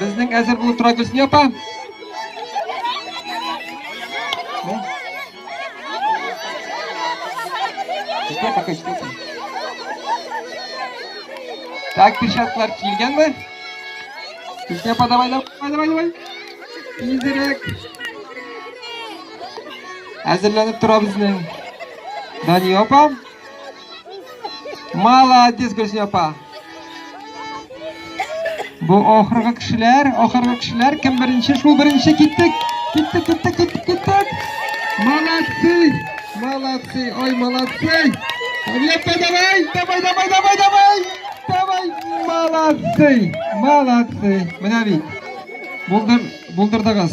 Безнең әзер булып тора Гөлсия апа. Җитә пока җитә. Так, перчаткалар килгәнме? Гөлсия апа, давай, давай, давай, давай. Тизрәк. Әзерләнеп тора безнең. Дания апа. Молодец, Гөлсинә апа. Бу ахыргы кешеләр, ахыргы кешеләр кем беренче? Шул беренче киттек. Киттек, киттек, киттек, киттек. Молодцы! Молодцы! Ой, молодцы! Лепе, давай, давай, давай, давай, давай! Давай, молодцы! Молодцы! Менә бит. Булдыр, булдырдыгыз.